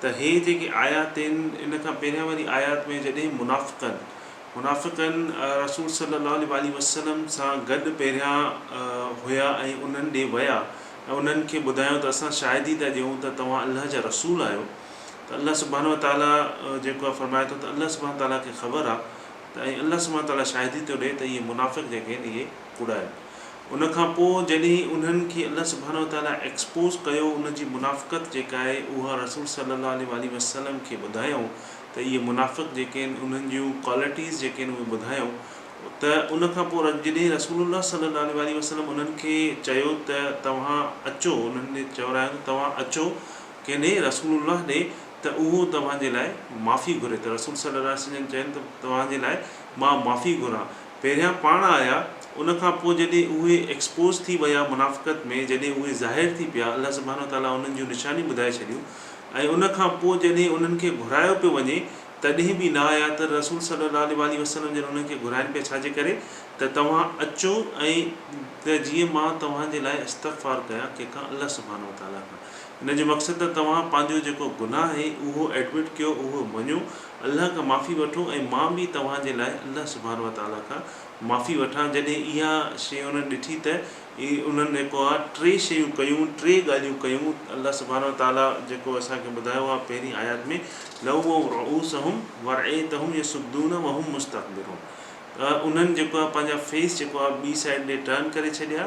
ته هي جيڪي آيات آهن ان کان پهريان واري آيات ۾ جڏهن منافقن منافقن رسول صلي الله عليه واٰله وسلم سان گڏ پهريان هيا ۽ انهن ڏي ويا ۽ انهن کي ٻڌايو ته اسان شاهدي ٿا ڏيون ته توهان الله جا رسول آهيو ته الله سبحانه وتعاليٰ جيڪو آهي فرمائي ٿو ته الله سبحانه وتعاليٰ کي خبر آهي ته ۽ الله سبحانه وتعاليٰ شاهدي ٿو ڏئي ته اهي منافق جيڪي آهن اهي ڪوڙا آهن ان کان پوء جڏهن انهن کي الله سبحانه وتعاليٰ ايڪسپوز ڪيو ان جي منافقت جيڪا آهي اها رسول صلي الله عليه واٰله وسلم کي ٻڌايائون ته اهي منافق جيڪي آهن انهن جون ڪوالٽيز جيڪي آهن اهي ٻڌايائون ته ان کان پوء جڏهن رسول الله صلي الله عليه واٰله وسلم انهن کي چيو ته توهان اچو انهن کي چورايائون ته توهان اچو ڪنهن ڏي رسول الله ڏي ته اهو توهان جي لاء معافي گهري ته رسول صلي الله عليه وسلم چين ته توهان جي لاء مان معافي گهران پهريان پاڻ آيا ان کان پوء جڏهن اهي ايڪسپوز ٿي ويا منافقت ۾ جڏهن اهي ظاهر ٿي پيا الله سبحانه وتعاليٰ انهن جون نشانيون ٻڌائي ڇڏيون ۽ ان کان پوء جڏهن انهن کي گهرايو پيو وڃي تڏهن به نه آيا ته رسول صلّي الله عليه واٰله وسلّم جڏهن انهن کي گهرائن پيا ڇا جي ڪري ته توهان اچو ۽ ته جيئن مان توهان جي لاء استغفار ڪيان ڪنهن کان الله سبحانه وتعاليٰ کان ان جو مقصد ته توهان پنهنجو جيڪو گناهه آهي اهو ايڊمٽ ڪيو اهو مڃو الله کان معافي وٺو ۽ مان به توهان جي لاء الله سبحانه وتعاليٰ کان معافي وٺان جڏهن اها شيء انهن ڏٺي ته انهن جيڪو آهي ٽي شيون ڪيون ٽي ڳالهيون ڪيون الله سبحانه وتعاليٰ جيڪو اسان کي ٻڌايو آهي پهرين آيات ۾ لووا رعوسهم ورئيتهم يصدون وهم مستكبرون ته انهن جيڪو آهي پنهنجا فيس جيڪو آهي ٻي سائيڊ ڏي ٽرن ڪري ڇڏيا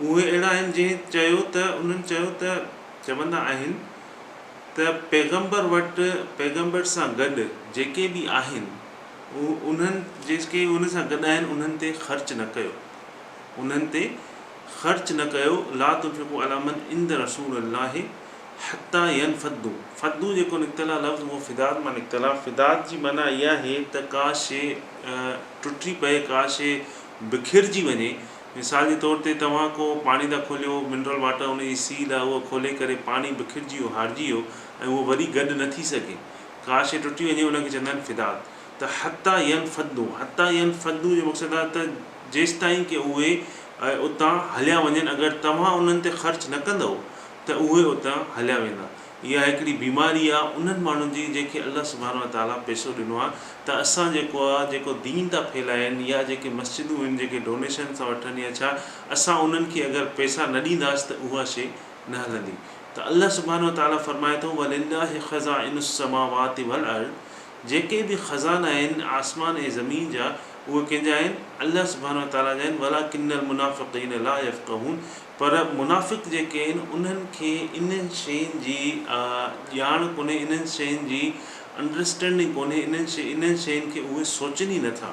اهي اهڙا آهن جنهن چيو ته انهن چيو ته چوندا آهن ته پيغمبر وٽ پيغمبر سان گڏ جيڪي به آهن انهن جيڪي ان سان گڏ آهن انهن تي خرچ نه ڪيو انهن تي خرچ نه ڪيو لا تنفقو علي من عند رسول الله حتي ينفضو فضو جيڪو نڪتل آهي لفظ اهو فداد مان نڪتل آهي فداد جي معنيٰ اها آهي ته ڪا شيء ٽٽي پئي ڪا شيء بکرجي وڃي مثال جي طور تي توهان ڪو پاڻي ٿا کوليو، منرل واٽر، ان جي سيل آهي اها کولي ڪري پاڻي بکرجي ويو، هارجي ويو ۽ اهو وري گڏ نه ٿي سگهي. ڪا شيء ٽٽي وڃي ان کي چوندا آهن فدات. ته حتي ينفدو، حتي ينفدو جو مقصد آهي ته جيستائين ڪي اهي اتان هليا وڃن اگر توهان انهن تي خرچ نه ڪندؤ ته اهي اتان هليا ويندا. اها هڪڙي بيماري آ انهن ماڻهن جي جنهن کي الله سبحانه وتعاليٰ پيسو ڏنو آ ته اسان جيڪو آ جيڪو دين ٿا ڦهلائين يا جيڪي مسجدون هن جيڪي ڊونيشن ٿا وٺن يا ڇا اسان انهن کي اگر پيسا نه ڏينداس ته اها شي نه هلندي ته الله سبحانه وتعاليٰ فرمائي ٿو ولله خزائن السماوات والارض جيڪي به خزانا آهن آسمان ۽ زمين جا اهي ڪنهن جا آهن الله سبحانه وتعاليٰ جا آهن ولٰڪن المنافقين لا يفقهون پر منافق جيڪي آهن انهن کي انهن شين جي ڄاڻ ڪونهي انهن شين جي انڊرسٽينڊنگ ڪونهي انهن شين انهن شين کي اهي سوچين ئي نٿا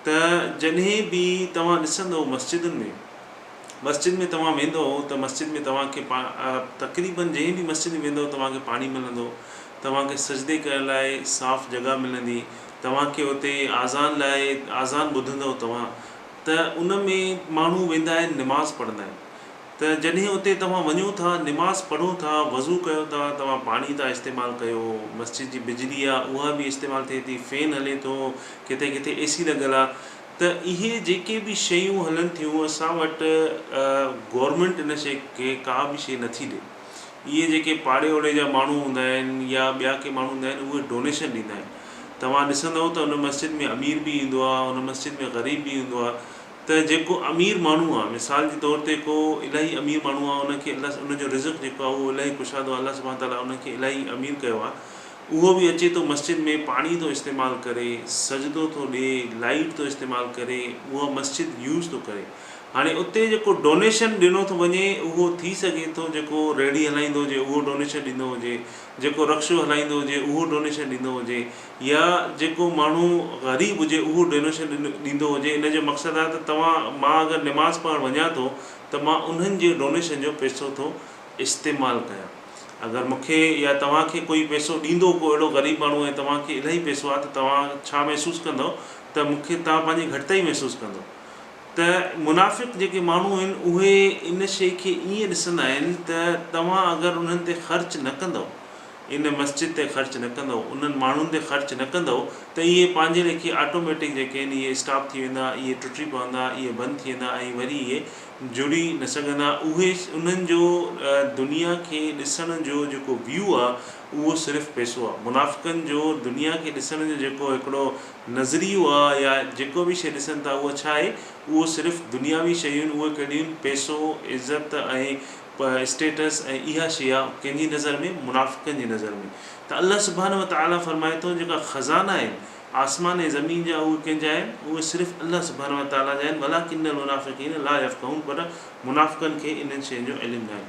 ته جڏهن به توهان ڏسندئو مسجدن ۾ مسجد ۾ توهان ويندئو ته مسجد ۾ توهان کي تقريبن جنهن به مسجد ۾ ويندئو توهان کي پاڻي ملندو توهان کي سجدي ڪرڻ لاء صاف جڳهه ملندي توهان کي اتي آذان لاء آذان ٻڌندئو توهان ته ان ۾ ماڻهو ويندا آهن نماز پڙهندا آهن ته جڏهن اتي توهان وڃو ٿا نماز پڙهو ٿا وضو ڪيو ٿا توهان پاڻي ٿا استعمال ڪيو مسجد جي بجلي آهي اها به استعمال ٿئي ٿي فين هلي ٿو ڪٿي ڪٿي اي سي لڳل آهي ته اهي جيڪي به شيون هلن ٿيون اسان وٽ گورمينٽ ان شي کي ڪا به شي نٿي ڏي اهي جيڪي پاڙي اوڙي جا ماڻهو هوندا آهن يا ٻيا ڪي ماڻهو هوندا آهن اهي ڊونيشن ڏيندا آهن توهان ڏسندئو ته ان مسجد ۾ امير به ايندو آهي ان مسجد ۾ غريب به ايندو آهي ته جيڪو امير ماڻهو آهي مثال جي طور تي ڪو الاهي امير ماڻهو آهي ان کي الله ان جو رزق جيڪو آهي اهو الاهي ڪشادو آهي الله سبحانه تعالٰي ان کي الاهي امير ڪيو آهي اهو به اچي ٿو مسجد ۾ پاڻي ٿو استعمال ڪري سجدو ٿو ڏي لائيٽ ٿو استعمال ڪري اها مسجد يوز ٿو ڪري هاڻي اتي جيڪو ڊونيشن ڏنو ٿو وڃي اهو ٿي سگهي ٿو جيڪو ريڙهي هلائيندو هجي اهو ڊونيشن ڏيندو هجي، جيڪو رڪشو هلائيندو هجي اهو ڊونيشن ڏيندو هجي يا جيڪو ماڻهو غريب هجي اهو ڊونيشن ڏيندو هجي ان جو مقصد آهي ته توهان مان اگر نماز پڙهڻ وڃان ٿو ته مان انهن جي ڊونيشن جو پيسو ٿو استعمال ڪيان اگر مون کي يا توهان کي ڪوئي پيسو ڏيندو ڪو اهڙو غريب ماڻهو ۽ توهان کي الاهي پيسو آهي ته توهان ڇا محسوس ڪندو ته مون کي توهان پنهنجي گهٽتائي محسوس ڪندو. ته منافق جيڪي ماڻهو آهن اهي ان شيء کي ائين ڏسندا آهن ته توهان اگر انهن تي خرچ نه ڪندؤ، ان مسجد تي خرچ نه ڪندؤ، انهن ماڻهن تي خرچ نه ڪندؤ ته اهي پنهنجي ليکي آٽوميٽڪ جيڪي آهن اهي اسٽاپ ٿي ويندا، اهي ٽٽي پوندا، اهي بند ٿي ويندا ۽ وري اهي جڙي نه سگهندا. اهي انهن جو دنيا کي ڏسڻ جو جيڪو ويو آهي اهو صرف پئسو آهي. منافقن جو دنيا کي ڏسڻ جو جيڪو هڪڙو نظريو آ يا جيڪو به شيء ڏسن ٿا اهو ڇا آهي اهو صرف دنياوي شيون اهي ڪهڙيون پيسو عزت ۽ اسٽيٽس ۽ اها شيء آ ڪنهن جي نظر ۾ منافقن جي نظر ۾ ته الله سبحانه وتعالٰي فرمائي ٿو جيڪا خزانا آهن آسمان ۽ زمين جا اهي ڪنهن جا آهن اهي صرف الله سبحانه وتعالٰي جا آهن ولٰڪن المنافقين لا يفقهون پر منافقن کي انهن شين جو علم ناهي.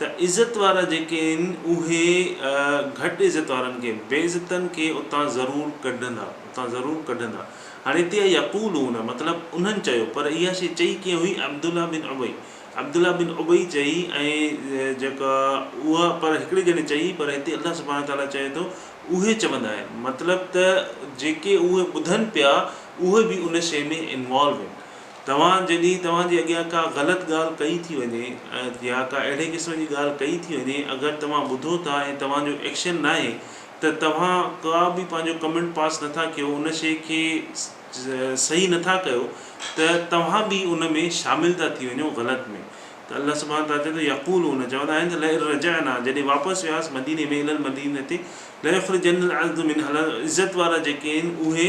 ته عزت وارا جيڪي آهن اهي گهٽ عزت وارن کي، بي عزتن کي اتان ضرور ڪڍندا، اتان ضرور ڪڍندا. هاڻي هتي آهي يقولون مطلب انهن چيو، پر اها شيء چئي ڪيئن هئي؟ عبدالله بن ابي، عبدالله بن ابي چئي ۽ جيڪا اها پر هڪڙي ڄڻي چئي پر هتي الله سبحانه وتعاليٰ چئي ٿو اهي چوندا آهن مطلب ته جيڪي اهي ٻڌن پيا اهي به ان شيء ۾ انوالو آهن. توهان جڏهن توهان جي اڳيان ڪا غلط ڳالهه ڪئي ٿي وڃي يا ڪا اهڙي قسم جي ڳالهه ڪئي ٿي وڃي اگر توهان ٻڌو ٿا ۽ توهان جو ايڪشن ناهي ته توهان ڪا به پنهنجو ڪمينٽ پاس نٿا ڪيو ان شي کي صحيح نٿا ڪيو ته توهان به ان ۾ شامل ٿا ٿي وڃو غلط ۾ ته الله سبحانه تعالٰي چوي ٿو يقولون چوندا آهن ته لئن رجعنا جڏهن واپس وياس مديني ۾ الي المدينتي ليخرجن العز منها عزت وارا جيڪي آهن اهي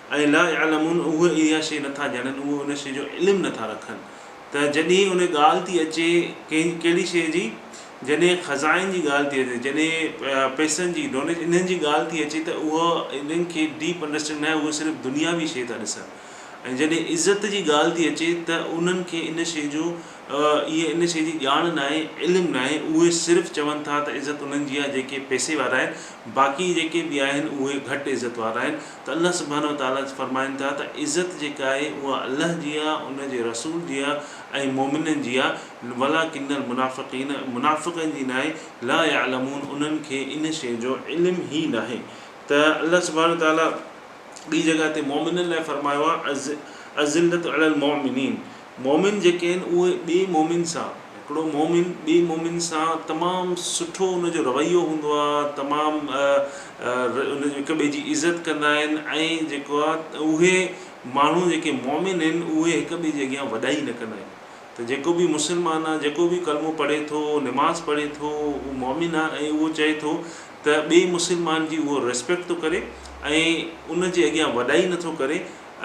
اي لا يعلمون اهي اها شيء نه ٿا ڄاڻن اهي ان شيء جو علم نه ٿا رکن ته جڏهن ان ڳالهه ٿي اچي ڪنهن ڪهڙي شيء جي جڏهن خزائن جي ڳالهه ٿي اچي جڏهن پئسن جي ڊونيشن انهن جي ڳالهه ٿي اچي ته اهو انهن کي ڊيپ انڊرسٽينڊ ناهي اهي صرف دنياوي شيء ٿا ڏسن ۽ جڏهن عزت جي ڳالهه ٿي اچي ته انهن کي ان شيء جو اهي ان شيء جي ڄاڻ ناهي، علم ناهي، اهي صرف چون ٿا ته عزت انهن جي آهي جيڪي پئسي وارا آهن، باقي جيڪي به آهن اهي گهٽ عزت وارا آهن ته الله سبحانه وتعالٰي فرمائن ٿا ته عزت جيڪا آهي اها الله جي آهي، ان جي رسول جي آهي ۽ مؤمنن جي آهي، ولٰڪن المنٰفقين منافقن جي ناهي، لا يعلمون انهن کي ان شيء جو علم ئي ناهي ته الله سبحانه وتعالٰي ٻي جڳهه تي مؤمنن لاء فرمايو آهي، الذلة علي المؤمنين. مؤمن جيڪي آهن اهي ٻئي مؤمن سان هڪڙو مؤمن ٻئي مؤمن سان تمام سٺو ان جو رويو هوندو آ تمام ان جو هڪ ٻئي جي عزت ڪندا آهن ۽ جيڪو آ اهي ماڻهو جيڪي مؤمن آهن اهي هڪ ٻئي جي اڳيان وڏائي نه ڪندا آهن ته جيڪو به مسلمان آ جيڪو به ڪلمو پڙهي ٿو نماز پڙهي ٿو اهو مؤمن آ ۽ اهو چئي ٿو ته ٻئي مسلمان جي اهو ريسپيڪٽ ٿو ڪري ۽ ان جي اڳيان وڏائي نٿو ڪري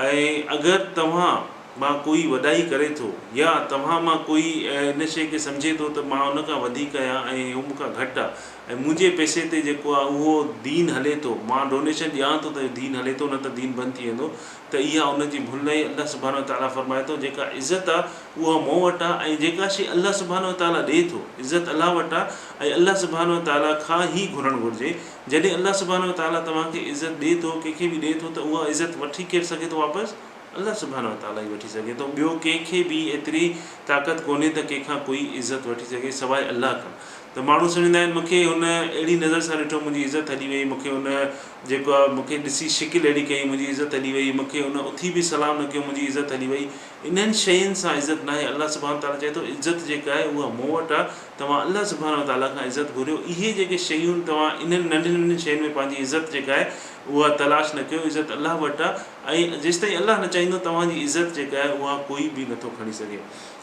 ۽ اگر توهان مان ڪوئي وڏائي ڪري ٿو يا توهان مان ڪوئي ان شيء کي سمجهي ٿو ته مان ان کان وڌيڪ آهيان ۽ هو مون کان گهٽ آ ۽ منهنجي پئسي تي جيڪو آ اهو دين هلي ٿو مان ڊونيشن ڏيان ٿو ته اهو دين هلي ٿو نه ته دين بند ٿي ويندو ته اها ان جي ڀل ناهي الله سبحانه وتعاليٰ فرمائي ٿو جيڪا عزت آ اها مون وٽ آ ۽ جيڪا شيء الله سبحانه وتعاليٰ ڏي ٿو عزت الله وٽ آ ۽ الله سبحانه وتعاليٰ کان هي گهرڻ گهرجي جڏهن الله سبحانه وتعاليٰ توهان کي عزت ڏي ٿو ڪنهن کي به ڏي ٿو ته اها عزت وٺي ڪير سگهي ٿو واپس الله سبحانه وتعالٰي ئي وٺي سگهي ٿو، ٻيو ڪنهن کي به ايتري طاقت ڪونهي ته ڪنهن کان ڪوئي عزت وٺي سگهي سواء الله کان ته ماڻهو سمجهندا آهن مون کي هن اهڙي نظر سان ڏٺو منهنجي عزت هلي وئي مون کي هن جيڪو آهي مون کي ڏسي شڪل اهڙي ڪئي منهنجي عزت هلي وئي مون کي هن اٿي به سلام نه ڪيو منهنجي عزت هلي وئي انهن شين سان عزت ناهي الله سبحانه وتعالٰي چئي ٿو عزت جيڪا آهي اها مون وٽ آهي توهان الله سبحانه وتعالٰي کان عزت گهريو اهي جيڪي شيون توهان انهن ننڍين ننڍين شين ۾ پنهنجي عزت جيڪا آهي اها تلاش نه ڪيو عزت الله وٽ آهي ۽ جيستائين الله نه چاهيندو توهان جي عزت جيڪا آهي اها ڪوئي به نٿو کڻي سگهي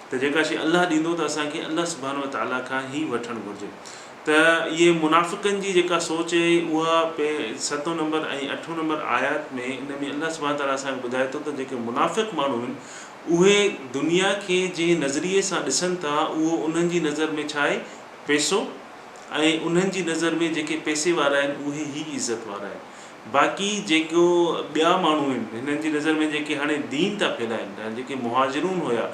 ته جيڪا شيء الله ڏيندو ته اسان کي الله سبحانه وتعاليٰ کان ئي وٺڻ گهرجي ته اهي منافقن جي جيڪا سوچ اهي اها پي ستون نمبر ۽ اٺون نمبر آيات ۾ ان ۾ الله سبحانه وتعاليٰ اسان کي ٻڌائي ٿو ته جيڪي منافق ماڻهو آهن اهي دنيا کي جنهن نظريي سان ڏسن ٿا اهو انهن جي نظر ۾ ڇا آهي پيسو ۽ انهن جي نظر ۾ جيڪي پيسي وارا آهن اهي ئي عزت وارا آهن باقي جيڪو ٻيا ماڻهو آهن هنن جي نظر ۾ جيڪي هاڻي دين ٿا ڦهلائين يا جيڪي مهاجرون هيا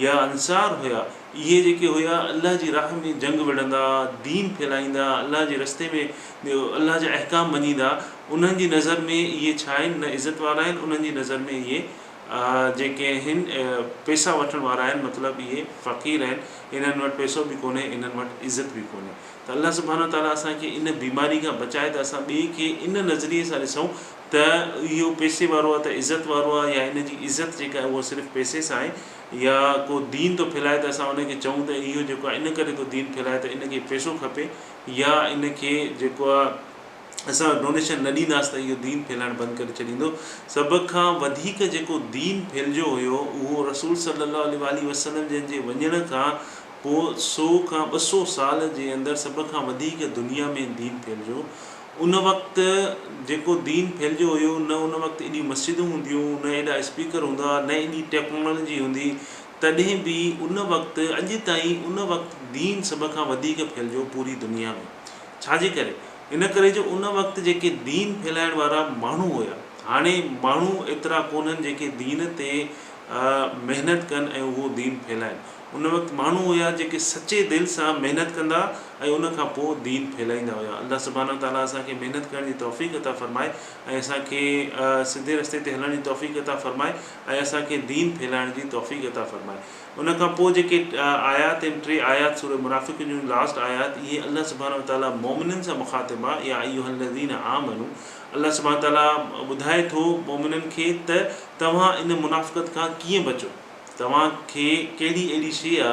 يا انصار هيا اهي جيڪي هيا الله جي راهه ۾ جنگ وڙهندا دين ڦهلائيندا الله جي رستي ۾ الله جا احڪام مڃيندا انهن جي نظر ۾ اهي ڇا آهن نه عزت وارا آهن انهن جي نظر ۾ اهي جيڪي آهن پيسا وٺڻ وارا آهن مطلب اهي فقير آهن انهن وٽ پيسو به ڪونهي انهن وٽ عزت به ڪونهي ته الله سبحانه وتعاليٰ اسان کي ان بيماري کان بچائي ته اسان ٻئي کي ان نظريي سان ڏسون ته اهو پئسي وارو آهي ته عزت وارو آهي يا هن جي عزت جيڪا آهي اها صرف پئسي سان آهي يا ڪو دين ٿو ڦهلائي ته اسان ان کي چئون ته اهو جيڪو آهي ان ڪري ٿو دين ڦهلائي ته ان کي پئسو کپي يا ان کي جيڪو آهي اسان ڊونيشن نه ڏينداس ته اهو دين ڦهلائڻ بند ڪري ڇڏيندو سڀ کان وڌيڪ جيڪو دين ڦهلجيو هيو اهو رسول صلّي اللّٰه عليه واٰله وسلّم جن جي وڃڻ کان پوء سؤ کان ٻه سؤ سال جي اندر سڀ کان وڌيڪ دنيا ۾ دين ڦهلجيو. ان وقت جيڪو دين ڦهلجيو هيو نه ان وقت ايڏيون مسجدون هونديون، نه ايڏا اسپيڪر هوندا، نه ايڏي ٽيڪنالاجي هوندي، تڏهن به ان وقت اڄ تائين ان وقت دين سڀ کان وڌيڪ ڦهلجيو پوري دنيا ۾. ڇا جي ڪري؟ ان ڪري جو ان وقت جيڪي دين ڦهلائڻ وارا ماڻهو هيا، هاڻي ماڻهو ايترا ڪونهن جيڪي دين تي محنت ڪن ۽ اهو دين ڦهلائن. ان وقت ماڻهو هيا جيڪي سچي دل سان محنت ڪندا ۽ ان کان پوء دين ڦهلائيندا هيا الله سبحانه وتعالي اسان کي محنت ڪرڻ جي توفيق عطا فرمائي ۽ اسان کي سڌي رستي تي هلڻ جي توفيق عطا فرمائي ۽ اسان کي دين ڦهلائڻ جي توفيق عطا فرمائي ان کان پوء جيڪي آيات آهن ٽي آيات سوره منافقون جون لاسٽ آيات اهي الله سبحانه وتعالي مؤمنن سان مخاطب آ يا ايها الذين آمنو الله سبحانه وتعالي ٻڌائي ٿو مؤمنن کي ته توهان ان منافقت کان ڪيئن بچو توهان کي ڪهڙي اهڙي شيء آ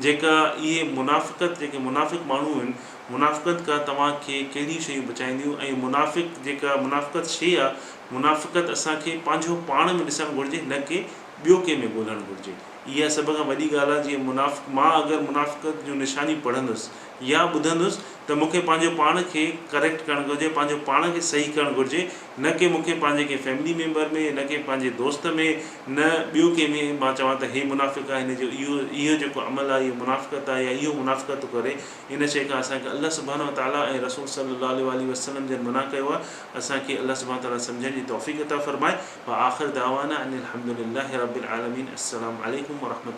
جيڪا اهي منافقت جيڪي منافق ماڻهو آهن منافقت کان توهان کي ڪهڙيون شيون بچائينديون ۽ منافق جيڪا منافقت شيء آ منافقت اسان کي پنهنجو پاڻ ۾ ڏسڻ گهرجي نه ڪي ٻيو ڪنهن ۾ ڳولهڻ گهرجي اها سڀ کان وڏي ڳالهه آ جيئن منافق مان اگر منافقت جون نشانيون پڙهندس يا ٻڌندس ته مون کي پنهنجو پاڻ کي ڪريڪٽ ڪرڻ گهرجي پنهنجو پاڻ کي صحيح ڪرڻ گهرجي نه ڪي مون کي پنهنجي ڪنهن فيملي ميمبر ۾ نه ڪي پنهنجي دوست ۾ نه ٻيو ڪنهن ۾ مان چوان ته هي منافق آهي هن جو اهو اهو جيڪو عمل آهي اهو منافقت آهي يا اهو منافقت ٿو ڪري ان شي کان اسان کي الله سبحانه وتعالٰي ۽ رسول صلي الله عليه واٰله وسلم جن منع ڪيو آهي اسان کي الله سبحانه وتعالٰي سمجهڻ جي توفيق عطا فرمائي واخر دعوانا ان الحمد لله رب العالمين السلام عليڪم ورحمة